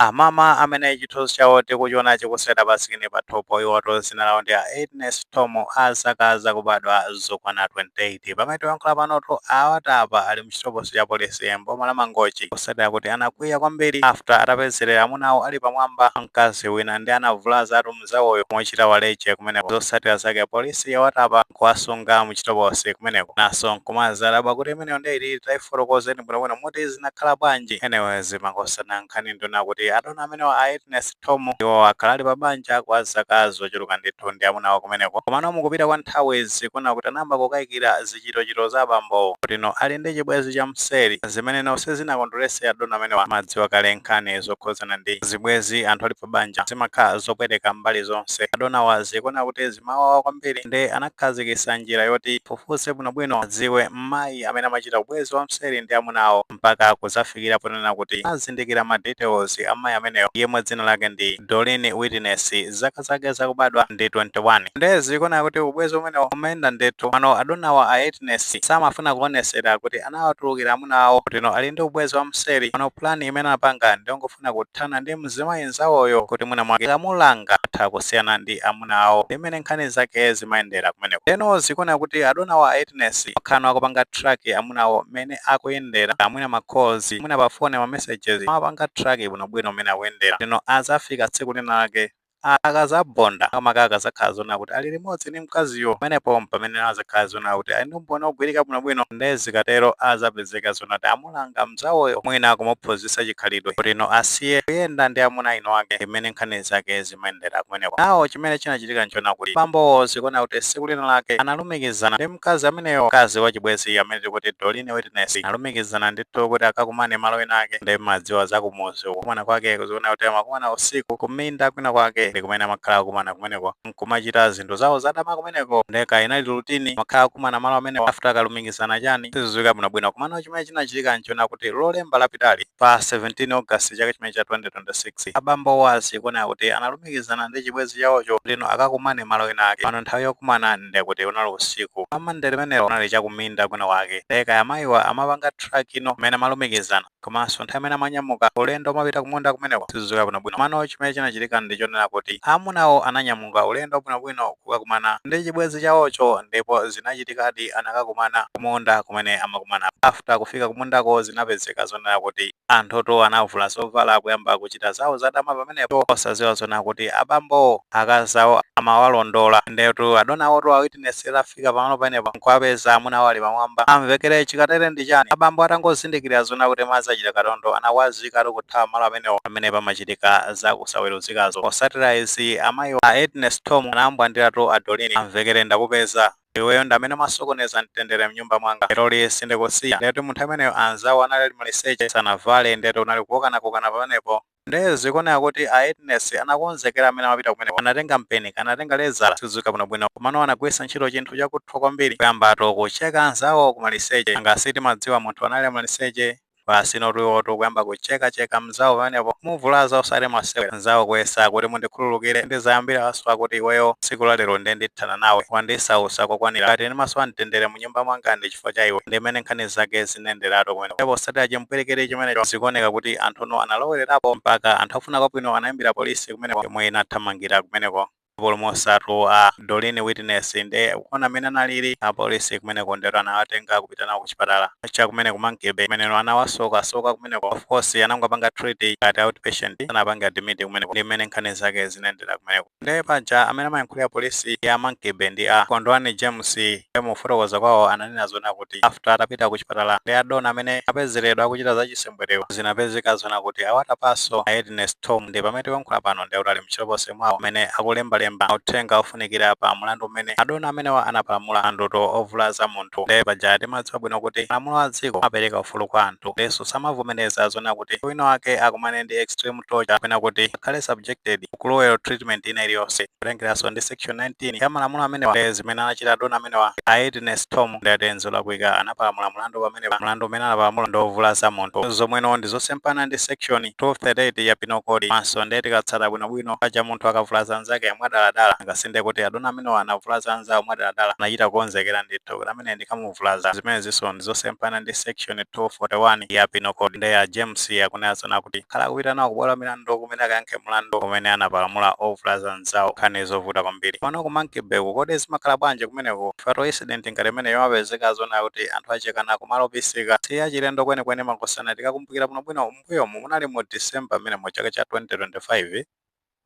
Amama amene chithunzi chawo tikuchiona chikusewera pa sikini pathupo iwotu dzina lawo ndi a Ednes Thomu a zaka zakubadwa zokwana 28. Pamene tikuyankhula panotu awatapa ali mchitokosi cha polisi m'boma la Mangochi potsatira kuti anakwiya kwambiri after atapezerera amuna awo ali pamwamba mkazi wina nde anavulazatu mzawoyo kumuchita waleje kumeneko zosatira zake apolisi yawatapa nkuwasunga muchitokosi kumeneko naso nkumadzadabwa kuti imeneyo nde iti taifotokozeni bwinobwino kuti zinakhala bwanji anyway zimangosana nkhani ndi yoona kuti adona amenewa a Ednes Thom iwo akhala ali pa banja kwa zaka zochuluka ndithu ndi amuna awo kumeneko komano mukupita kwa nthawi zikuoneka kuti anayamba kukayikira zichitochito za abambowo kutino ali ndi chibwezi cha mseri zimene no sizinakondwerese adona amenewa mumadziwa kale nkhani zokhuzana ndi zibwezi anthu ali pa banja zimakhala zopweteka mbali zonse. Adonawa zikuoneka kuti zimawawa kwambiri nde anakhazikitsa njira yoti afufuze bwinobwino adziwe mmayi amene amachita ubwezi wa mseri ndi amuna awo mpaka kudzafikira ponena kuti anazindikira ma details a mmayi ameneyo yemwe dzina lake ndi Doreen Witness zaka zake zakubadwa ndi 21. Nde zikuoneka kuti ubwezi umenewo umayenda ndithu. Mano adonawa a Ednes samafuna kuonesera kuti anawatulukira amuna awo kutino ali ndi ubwezi wa mseri. Mano plan imene anapanga ndi yongofuna. akufuna kuthana ndi mzimayi nzawoyo kuti mwina mwake akamulanga atha kusiyana ndi amuna awo ndi mmene nkhani zake zimayendera kumeneko ndeno zikuoneka kuti adonawa a Ednes akhala akupanga track amuna awo mmene akuyendera amwina ma calls mwina pa phone ma messages amapanga track bwinobwino mmene akuyendera ndeno azafika tsiku lina lake Akadzabonda, makamaka akadzakhala zoona kuti ali limodzi ndi mkaziyo, pamenepo m'pamene adzakhala zoona kuti ali ndi umboni wogwirika bwinobwino. Ndiye zikatero adzapezeka zoona kuti amulanga mnzawoyo, mwina kumuphunzitsa chikhalidwe, kutino asiye kuyenda ndi amuna a eniake. Ndi mmene nkhani zake zimayendera kumeneko. Now chimene chinachitika n'choona kuti bambowo zikuoneka kuti tsiku linalake analumikizana ndi. mkazi ameneyo mkazi wachibwezi amene tikuti Doreen Witness analumikizana ndithu kuti akakumane malo ena ake nde mumadziwa za kumudzi kukumana kwake zikuoneka kuti amakumana usiku kuminda kwina kwake ndi kumene amakhala akumana kumeneko nkumachita zinthu zawo zadama kumeneko nde kaya inali routine amakhala akumana malo amenewo after akalumikizana chani sizidziwika bwinobwino komano chimene chinachitika nchoona kuti lolemba lapitali pa 17 august chaka chimene cha 2026 abambowa zikuoneka kuti analu kulumikizana ndi chibwezi chawocho kutino akakumane malo ena ake mano nthawi yokumana nde kuti unali usiku pa monday limenelo unali chakuminda kwina kwake nde kaya mayiwa amapanga track no mmene amalumikizana komanso nthawi imene amanyamuka ulendo omapita kumunda kumeneko sizidziwika bwinobwino mano chimene chinachitika ndi chonena kuti amunawo ananyamuka ulendo bwinobwino kukakumana ndi chibwezi chawocho ndipo zinachitikadi anakakumana kumunda kumene amakumana after kufika kumundako zinapezeka zonena kuti Anthu tu anavula zovala nkuyamba kuchita zawo zadama pamenepo osaziwa zona kuti abambowo akazi awo amawalondola nde tu adonawo tu a Edness atafika pamalo pamenepo nkuwapeza amuna awo ali pamwamba amvekere chikatere ndi chani abambo atangozindikilira zona kuti madzi achita katondo anawazika tu kuthawa malo amenewo pamene pamachitika za kusaweruzikazo posatira izi amayiwo a Edness Thom anawambwandira tu a Doreen amvekere ndakupeza Iweyo ndi amene umasokoneza mtendere mnyumba mwanga. Leroli sindikusiya. Ndekuti munthu ameneyo anzawo anali ali maliseche sanavale ndekuti unali kukokanakokana pamenepo. Nde zikuoneka kuti a Edness anakonzekera mmene amapita kumeneko. Anatenga mpeni, anatenga lezala, sizidziwika bwinobwino komano anagwiritsa ntchito chinthu chakuthwa kwambiri kuyambatu kucheka anzawo kumaliseche. Nanga si timadziwa munthu anali maliseche? basi notu iwotu kuyamba kucheka cheka mzawo pamenepo muvulaza osati masewera mzawo kuyesa kuti mundikhululukire ndizayambira waswa kuti iweyo tsiku la lero nde ndithana nawe wandisausa kokwanira ngati ndimasowa mtendere mu nyumba mwanga ndi chifukwa cha iwe ndimene nkhani zake zinayenderatu kumeneko posatira chimpwirikiti chimenecho zikuoneka kuti anthuno analowererapo mpaka anthu ofuna kwabwino anaimbira polisi kumeneko yomwe inathamangira kumeneko Apulumutsatu a Doreen Witness nde poona mmene analili, apolisi kumeneko ndetu anawatenga kupita nawo kuchipatala cha kumene ku Monkey Bay kumeneno anawasoka soka kumeneko of course anangowapanga treat ngati out patient sanawapange admit kumeneko ndi mmene nkhani zake zinayendera kumeneko. Nde paja amene amayankhulira polisi ya Monkey Bay ndi a Kondwani James nde mukufotokoza kwawo ananena zonena kuti after atapita kuchipatala ndi a dona amene apezeredwa akuchita zachisembwere Mbwerewa zinapezeka zona kuti awatapaso a Edness Thom ndiye pamene tikuyankhula pano ndiye kuti ali mchitokosi mwawo kumene akulembalemba mauthenga ofunikira pa mulandu umene adona amenewa anapalamula mlandutu ovulaza munthu ndiye paja timadziwa bwino kuti malamulo a dziko amapereka ufulu kwa anthu ndinso samavomeleza zona kuti wina wake akumane ndi extreme torture kapena kuti akhale subjected to cruel treatment ina iliyonse kutengeranso ndi section 19 ya malamulo amenewa eh, zimene anachita adona amenewa a Edness Thom ndekuti nzolakwika anapalamula mlandu pamenepa mlandu umene anapalamula ndi ovulaza munthu zomweno ndi zosemphana ndi section 238 ya penal code komanso ndiye tikatsata bwinobwino paja munthu akavulaza anzake mwadaladala nanga si ndekuti adona amenewa anavulaza anzawo mwadaladala anachita kukonzekera ndithu kuti amene ndikamu vulaza. Zimenezinso ndi zosemphana ndi Section 241 ya Penal Code. Nde a James akunena zona kuti akhala akupita nawo kubwalo la milandu kumene akayankhe mlandu umene anapalamula ovulaza mnzawo. Nkhani zovuta kwambiri. Komano ku Monkey-bay-ku kodi zimakhala bwanji kumeneku? Chifukwa incident ngati imeneyi yomapezeka zona kuti anthu achekana kumalo obisika. Si yachilendo kwenikweni makosana. Tikakumbukira bwinobwino, m'mbuyomu munali mu December m'menemo chaka cha 2025.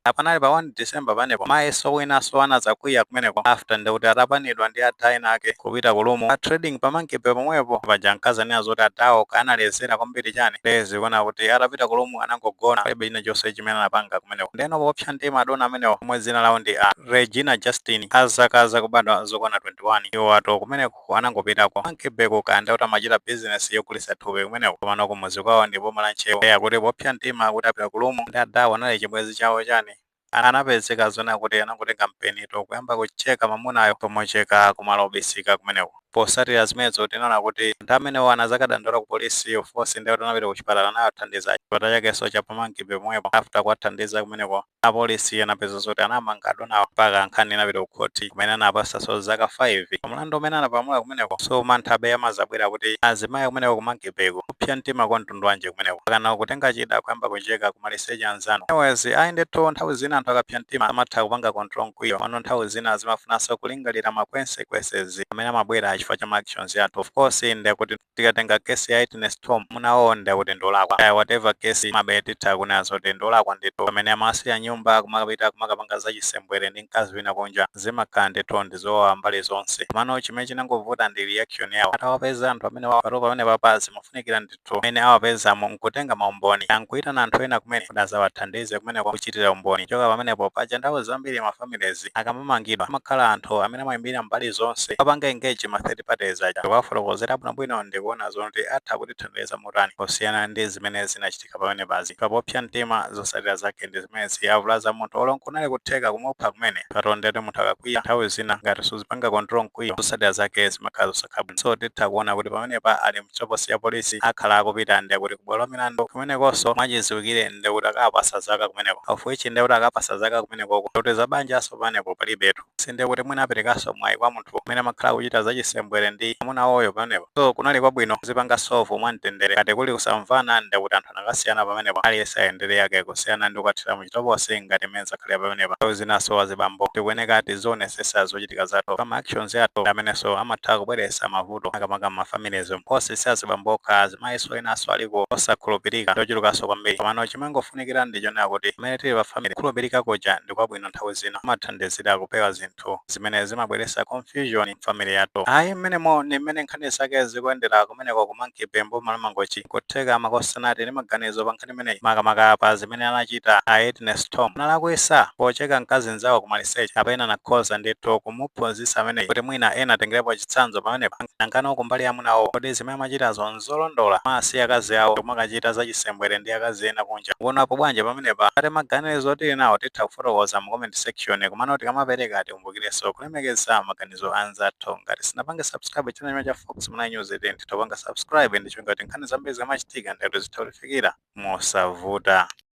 Nde panali pa 1 December pamenepo mayi so wina so anazakwiya kumeneko after nde kuti atapanidwa ndi adha ena ake kupita ku room pa trading pa monkey bay pomwepo paja ankazanena zoti adhawo kaya analezera kwambiri chani nde zikuoneka kuti atapita ku room anangogona palibe china chonse chimene anapanga kumeneko ndeno popsa mtima adona amenewo omwe dzina lawo ndi a Regina Justin a zaka zakubadwa zokwana 21 iwowatu kumeneko Anangopita ku Monkey Bay ku kaya ndekuti amachita business yogulitsa thupi kumeneko komano kumudzi kwawo ndi m'boma la Ntcheu nde akuti popsa mtima akuti apita ku room ndi adawa anali chibwezi chawo chani anapezeka zonena kuti anangotenga mpeni nkuyamba kucheka mamunayo pomucheka kumalo obisika kumeneko. Potsatira zimenezo tinaona kuti anthu amenewo anazakadandaula ku police of course ndekuti anapita ku chipatala anawathandiza chipatala chakenso cha pa Monkey Bay pomwepo after kuwathandiza kumeneko Apolisi anapezeka zoti anamanga adonawa mpaka nkhani inapita ku khothi kumene anawapasanso zaka 5 pa mlandu umene anapamula kumeneko. So mantha abe amazabwera kuti azimayi kumeneko ku Monkey Bay ko. Kupsa mtima kwa mtundu wanji kumeneko? Mpakana kutenga chida kuyamba kucheka ku maliseche anzanu. Anyways, ayi ndithu nthawi zina anthu akapsa mtima amatha kupanga control mkwiyo komano nthawi zina zimafunanso kulingalira ma consequences amene amabwera chifukwa cha ma actions athu. Of course ndekuti. tikatenga case ya a Agness Thom munawo nde kuti ndolakwa kaya whatever case mabe titha kunena zoti ndolakwa ndithu pamene amasiya nyumba kumakapita kumakapanga za chisembwere ndi mkazi wina kunja zimakhala ndithu ndi zowawa mbali zonse komano chimene chinangovuta ndi reaction yawo atawapeza anthu amenewa paja pamenepa zimafunikira ndithu amene awapezamo nkutenga maumboni nkuitana anthu ena kumene kuti azawathandize kumeneko kuchitira umboni choka pamenepo paja nthawi zambiri mafamilies akamamangidwa kumakhala anthu amene amayimirira mbali zonse kumapanga engage ma third parties aja ndikuwafotokozera bwinobwino ndikuona zoti atha kutithandiza motani kusiyana ndi zimene zinachitika pamenepazi. Koma popsa mtima zotsatira zake ndi zimenezi. Avulaza munthu olo nkunali kutheka kumupha kumene. Paja ndetu munthu akakwiya nthawi zina ngati suzipanga control mkwiyo zotsatira zake zimakhala zosakhala bwino. So titha kuona kuti pamenepa ali m'chitokosi cha polisi akhala akupita nde kuti kubwalo lamilandu kumenekonso mwachiziwikire nde kuti akapasa zaka kumeneko of which nde kuti akapasa zaka kumenekoko nde kuti za banjanso pamenepo palibetu so nde kuti mwina aperekanso mwayi kwa munthu amene amakhala akuchita zachisembwere ndi mamuna wawoyo pamenepo so kunali kwabwino kuzipanga solve mwamtendere ngati kuli kusamvana nde kuti anthu anakasiyana pamenepo aliyense ayendere yake kusiyana ndi kukathera mu chitokosi ngati mmene zakhalira pamenepa. Nthawi zinanso azibambo tikuyeneka tizionesesa zochitika zathu chifukwa ma actions athu ndi amenenso amatha kubweresa mavuto makamaka mma families mu. Of course si azibambo okha azimayinso enanso aliko osakhulupirika ndi ochulukanso kwambiri komano chimangofunikira ndi chonena kuti pamene tili pa family kukhulupirika kuja ndi kwabwino nthawi zina kumathandizira kupewa zinthu zimene zimabweresa confusion mu family yathu. Ayi mmenemo ndi mmene nkhani zake zikuyendera kumeneko ku Monkey Bay m'boma la Mangochi. Nkutheka makosana tili ndi maganizo pa nkhani imeneyi makamaka pa zimene anachita a Agness Thom. Analakwisa pocheka mkazi nzawo kumaliseche kapena anakhoza ndithu kumuphunzitsa ameneyi kuti mwina ena atengerepo chitsanzo pamenepa. Nangano kumbali ya amuna awo kodi zimene amachitazo nzolondola? Kumasiya akazi awo ndikumakachita za chisembwere ndi akazi ena kunja? Mukuonapo bwanji pamenepa? Ngati maganizo tili nawo titha kufotokoza mu comment section komano tikamapereka tikumbukirenso kulemekeza maganizo a anzathu. Ngati sitinapange subscribe channel chimenechi cha Fox Malawi News tiyeni titha kupanga subscribe ndi kuti nkhani zambiri zikamachitika, ndekuti zitha kutifikira mosavuta.